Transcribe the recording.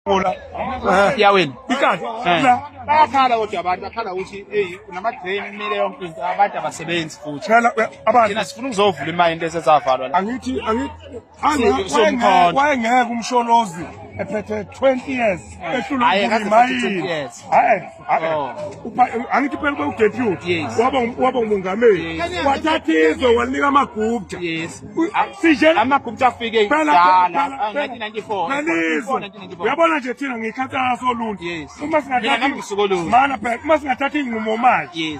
Ngola. Yawena. Ikati. Bayakhala kodwa abantu bakhala ukuthi hey unama drain kumele yonke into abantu abasebenzi futhi. Phela abantu thina sifuna ukuzovula imali into esesavalwa la. Angithi angithi somkhona. Wayengeke umsholozi ephethe 20 years ehlulwa imayini. Hayi. angithi phela ube udeputy waba umongameli wathatha izwe walinika amagupta amagupta afike uyabona nje thina ngiyikhansela soluntu uma singathatha iy'nqumo manje